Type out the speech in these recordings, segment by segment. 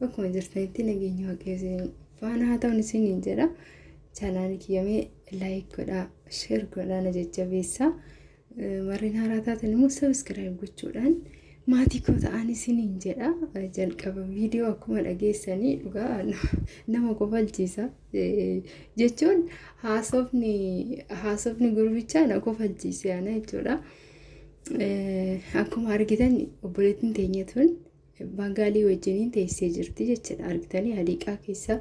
Bakkuma jirtanitti nageenyi waaqayyo isin faana haa ta'u isiniin jedha. Chaanaali kiyyamee laayik godhaa, sheer godhaa na jajjabeessa. Warreen haaraa taatan immoo sabiskiraayib gochuudhaan maatii koo ta'an isiniin jedha. Jalqaba viidiyoo akkuma dhageessanii dhugaa nama kofalchiisa. Jechuun haasofni haasofni gurbichaa na kofalchiise ana jechuudha. Akkuma argitan obboleettiin teenya tun Baangaalii wajjiniin teessee jirti jechuudha. Argitanii hadiiqaa keessa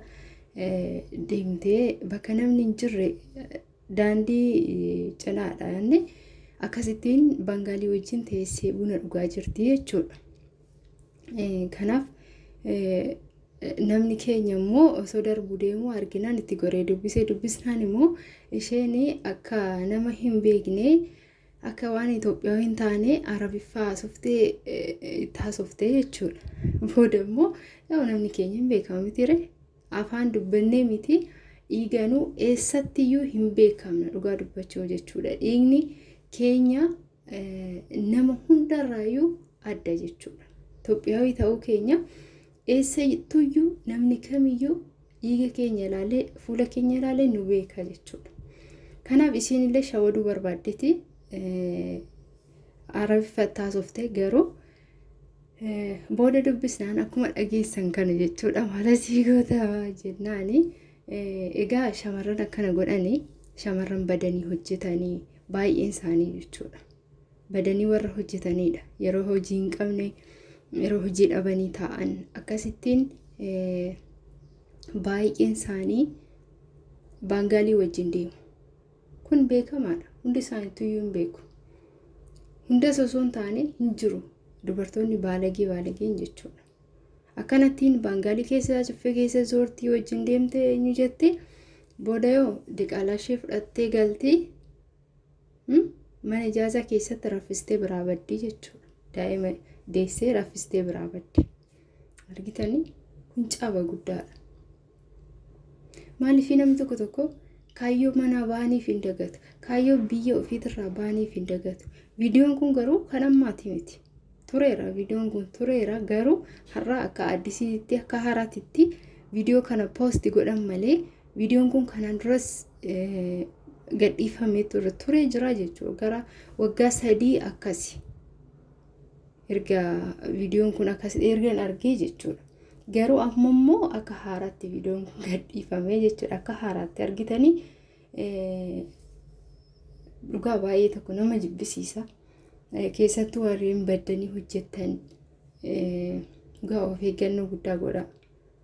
deemtee bakka namni hin jirre daandii cinaadha inni akkasittiin baangaalii wajjin teessee buna dhugaa jirti jechuudha. Kanaaf namni keenya immoo osoo darbuu deemuu arginaan itti goree dubbisee dubbisnaan immoo isheen akka nama hin beekne akka waan Itoophiyaawii hin taane Arabiffaa haasoftee itti haasoftee jechuudha. Booda immoo yoo namni keenya hin beekamu miti ree afaan dubbannee miti dhiiganuu eessattiyyuu hin beekamna dhugaa dubbachuu jechuudha. Dhiigni keenya nama hundarraayyuu adda jechuudha. Itoophiyaawii ta'uu keenya Eessattuyyuu namni kamiyyuu dhiiga keenya ilaalee fuula keenya ilaalee nu beeka jechuudha. Kanaaf isiinillee shawaduu barbaaddeeti arabiffa taasofte garuu booda dubbisnaan akkuma dhageessan kana jechuudha maala sii goota jennaani egaa shamarran akkana godhanii shamarran badanii hojjetanii baay'een isaanii jechuudha. badanii warra hojjetaniidha. Yeroo hojii hin qabne, yeroo hojii dhabanii taa'an akkasittiin baay'een isaanii baangaalii wajjin deemu. Kun beekamaadha. Hundi isaaniitu iyyuu hin beeku. Hundas osoo hin taane hin jiru. Dubartoonni baalagee baalageen jechuudha. Akkanattiin baangaalii keessa caffee keessa zoortii wajjin deemte eenyu jette booda yoo diqaalaa ishee fudhattee galtee Mana ijaazaa keessatti raffistee biraa baddii jechuudha. Daa'ima deessee raffistee biraa baddi. Argitanii kun caba guddaadha. Maaliif namni tokko tokko kaayyoo manaa baaniif hin dagatu. Kaayyoo biyya ofiitirraa baaniif hin dagatu. Viidiyoon kun garuu kan ammaati miti. Tureera viidiyoon kun tureera garuu har'a akka addisiitti akka haaraatitti viidiyoo kana poosti godhan malee Viidiyoon kun kanaan duras gadhiifamee ture jira jechuudha. Gara waggaa sadii akkasi. Erga viidiyoon kun akkas ergan argee jechuudha. Garuu amma immoo akka haaraatti viidiyoon kun gadhiifamee jechuudha. Akka haaraatti argitanii dhugaa baay'ee tokko nama jibbisiisa. Keessattuu warreen baddanii hojjetan dhugaa of eeggannoo guddaa godha.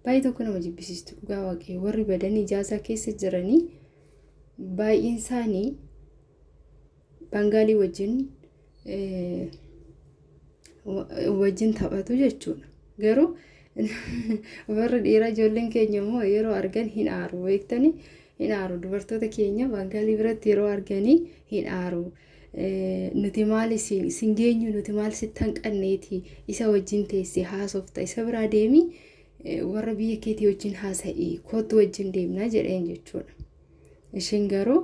Baay'ee tokko nama jibbisiistu dhugaa waaqayyo warri badan ijaasaa keessa jiranii baay'een isaanii bangaalii wajjin eh, wa- wajjin taphatu jechuudha. Garuu warri dhiiraa ijoolleen keenya immoo yeroo argan hin aaru beektani hin aaru dubartoota keenya bangaalii biratti yeroo arganii hin aaru Nuti maali sin geenyu nuti maal sitti hanqanneeti isa wajjin teesse haasofta isa biraa deemi warra biyya keetii wajjin haasa'i kootu wajjin deemna jedheen jechuudha. Ishiin garuu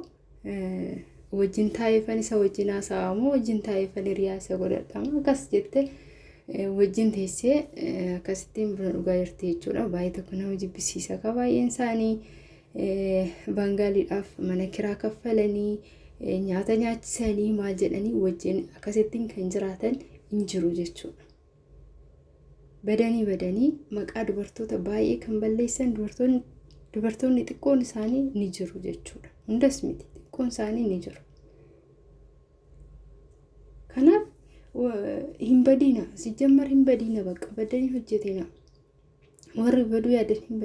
wajjin taa'eefan isa wajjin haasa'aa moo wajjin taa'eefan hiriyaa isa godhadhama akkas jette wajjin teessee akkasittiin buna dhugaa jirti jechuudha. Baay'ee tokko nama jibbisiisa ka baay'een isaanii. Baangaaliidhaaf mana kiraa kaffalanii nyaata nyaachisanii maal jedhanii wajjin akkasittiin kan jiraatan hin jiru jechuudha. Badanii badanii maqaa dubartoota baay'ee kan balleessan dubartoonni dubartoonni xiqqoon isaanii ni jiru jechuudha. Hundas miti xiqqoon isaanii ni jiru. Kanaaf hin badiina sijjammar hin badiina bakka badanii hojjetina warri baduu yaadan hin badiina.